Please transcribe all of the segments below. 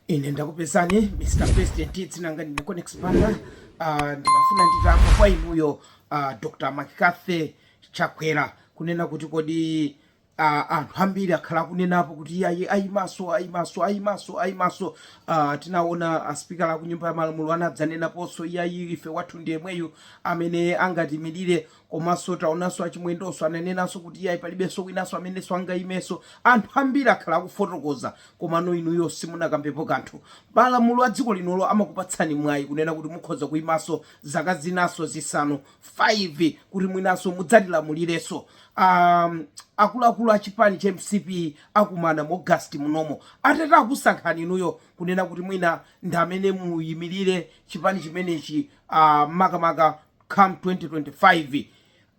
ine ndakupezani mr president dzina langa ndine conex panda uh, ndimafuna nditamva kwa inuyo uh, dr mccarthy chakwera kunena kuti kodi uh, anthu ambiri akhala akunenapo kuti iyayi ayimanso ayimanso ayimanso ayimanso uh, tinaona aspikala aku nyumba ya malamulo anadzanenaponso iyayi ife wathu ndi yemweyu amene angatimirire Komanso taonanso a Chimwendonso ananenanso kuti iyayi palibenso winanso amenenso angaimenso. Anthu ambiri akhala akufotokoza komano inuyo simunakambepo kanthu. Malamulo a dziko linolo amakupatsani mwayi kunena kuti mukhoza kuimanso zaka zinanso zisanu 5 kuti mwinanso mudzatilamulirenso. Aaa akuluakulu a chipani cha mcp akumana mu August munomo. Atati akusankhani inuyo kunena kuti mwina ndi amene muimirire chipani chimenechi aah makamaka ku. come 2025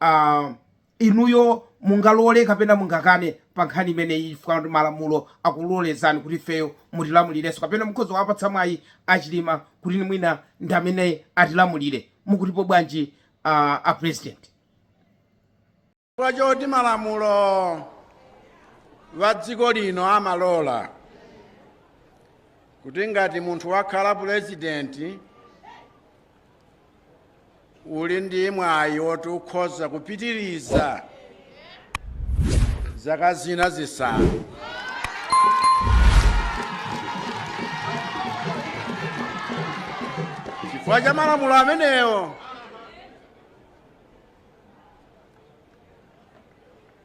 uh, inuyo mungalole kapena mungakane pa nkhani imeneyi chifukwa kuti malamulo akulolezani kuti ifeyo mutilamulirenso kapena mukhoza wapatsa mwayi achilima kuti ni mwina ndi amene atilamulire mukutipo bwanji uh, a president chifukwa choti malamulo a dziko lino amalola kuti ngati munthu wakhala pulezidenti uli ndi mwayi woti ukhoza kupitiriza zaka zina zisanu chifukwa cha malamulo amenewo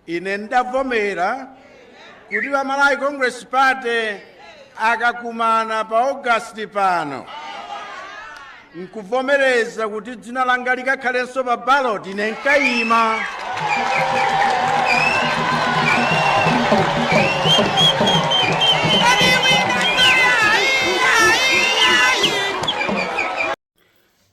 ine ndavomera kuti a malawi congress party akakumana pa august pano nkuvomereza kuti dzina langa likakhalenso pa ballot ine nkayima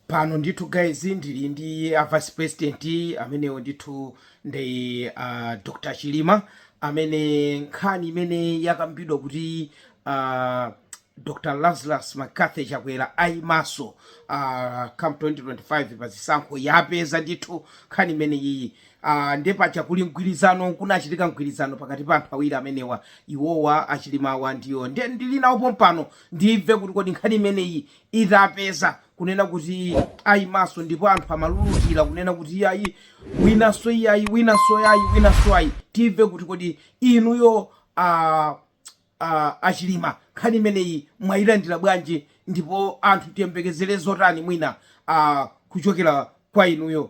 pano ndithu guys ndili ndi a vice president amenewo ndithu ndi uh, dr chilima amene nkhani imene yakambidwa kuti uh, dr lazarus mccarthy chakwera ayimanso uh, come 2025 pa zisankho yapeza ndithu nkhani imene iyi uh, nde paja kuli mgwirizano kunachitika mgwirizano pakati pa anthu awiri amenewa iwowa achilimawa ndi iwo nde ndili nawo pompano ndimve kuti kodi nkhani imeneyi itapeza kunena kuti ayimanso ndipo anthu amalulutira kunena kuti iyayi winanso iyayi winanso yayi winanso ayi timve kuti kodi inuyo a a- achilima nkhani imeneyi mwayilandira bwanji ndipo anthu tiyembekezere zotani mwina a kuchokera kwa inuyo